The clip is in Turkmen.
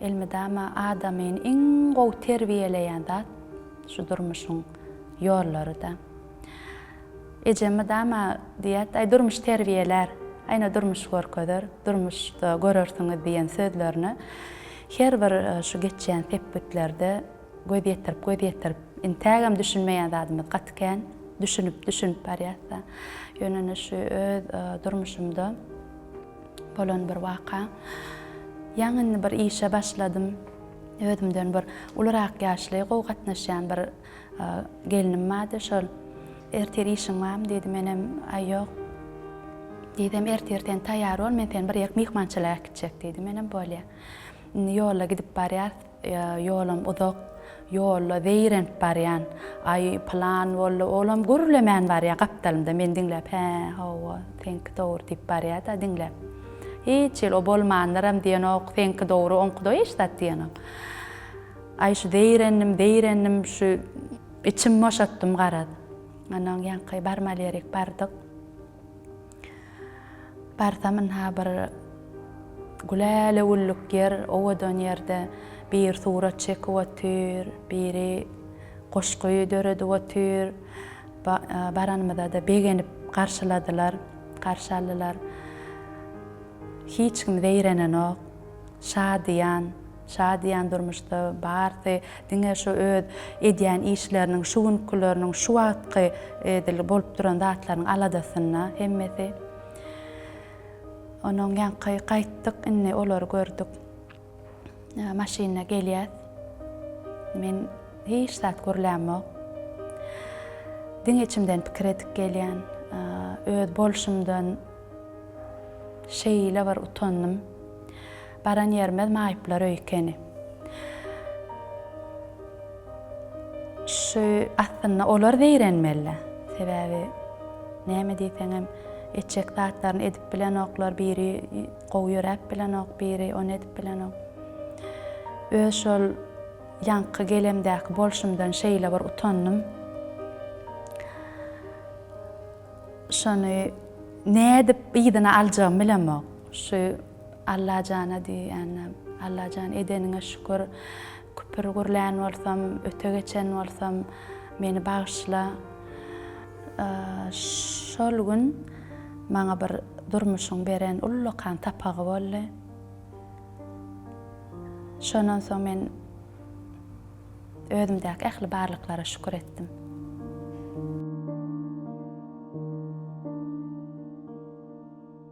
Elmydama adamyny iň gowy terbiýeleýän zat şu durmuşyň ýollary-da. Ejem mydama diýýärdi, Aý, durmuş terbiýelär, aýna durmuş görkezer, durmuşda görersiňiz diýen sözlerini her bir şu geçýän sepgitlerde göz ýetirip, göz ýetirip, intägem düşünmeýän zadymyz gaty kän, düşünip, düşünip barýas-da. Ýöne indi şu öz durmuşymda. Bolan bir waka. Ýaňy indi bir işe başladym. Özümden bir ulurak ýaşly, gowy gatnaşýan bir gelnim bardy. Şol, Ertir işiň barmy? diýdi. Menem, Aý, ýok. Diýdim, Ertir sen taýýar bol, men seni bir ýerik myhmançylyga äkitjek diýdi. Menem, Bolýa. Indi ýolda gidip barýarys. Ýolam uzak, ýolda zeýrenip barýan. Aý, pylan boldy, olam gürlemän barýar gapdalymda. Meni diňläp, Hä, hawa, seňki dogry diýip barýar-da diňläp. Hiç hili o bolmandyram diýenok, seňki dogry, oňky dogry hiç zat diýenok. Aý, şu zeýrendim, zeýrendim, şu içimi boşatdym garaz. Ondan ýaňky barmaly ýerik bardyk. Barsam ynha bir gülälewüllük ýer, owadan ýerde biri surat çekip otyr, biri goşgy döredip otyr. Baranymyza-da begenip garşyladylar, garşy aldylar. Hiç kim zeýrenenok, şadyýan. Şa diýen durmuşda barsy diňe şu öz edýän işleriniň, şu günkileriniň, şu wagtky edil bolup duran zatlarynyň aladasynda hemmesi. Onuň ýaňky gaýtdyk indi olary gördük. Maşynda gelýäs. Men hiç zat gürlämok. Diňe içimden pikir edip gelýän. Öz bolşumdan şeýle bir utandym. Baran ýerimiz maýyplar öýi ekeni. Şu aslynda olar zeýrenmeli. Sebäbi näme diýseňem etjek zatlaryny edip bilenoklar, biri gowy ýöräp bilenok, biri ony edip bilenok. Öz şol ýaňky gelemdäki bolşumdan şeýle bir utandym. Şony nädip yzyna aljagymy bilemok. Şu Allajana diýýändim. Allajan edeniňe şükür. Küpür gürlän bolsam, öte geçen bolsam, meni bagyşla. Şol gün maňa bir durmuşyň beren ullakan sapagy boldy. Şondan soň men özümdäki ähli barlyklara şükür etdim.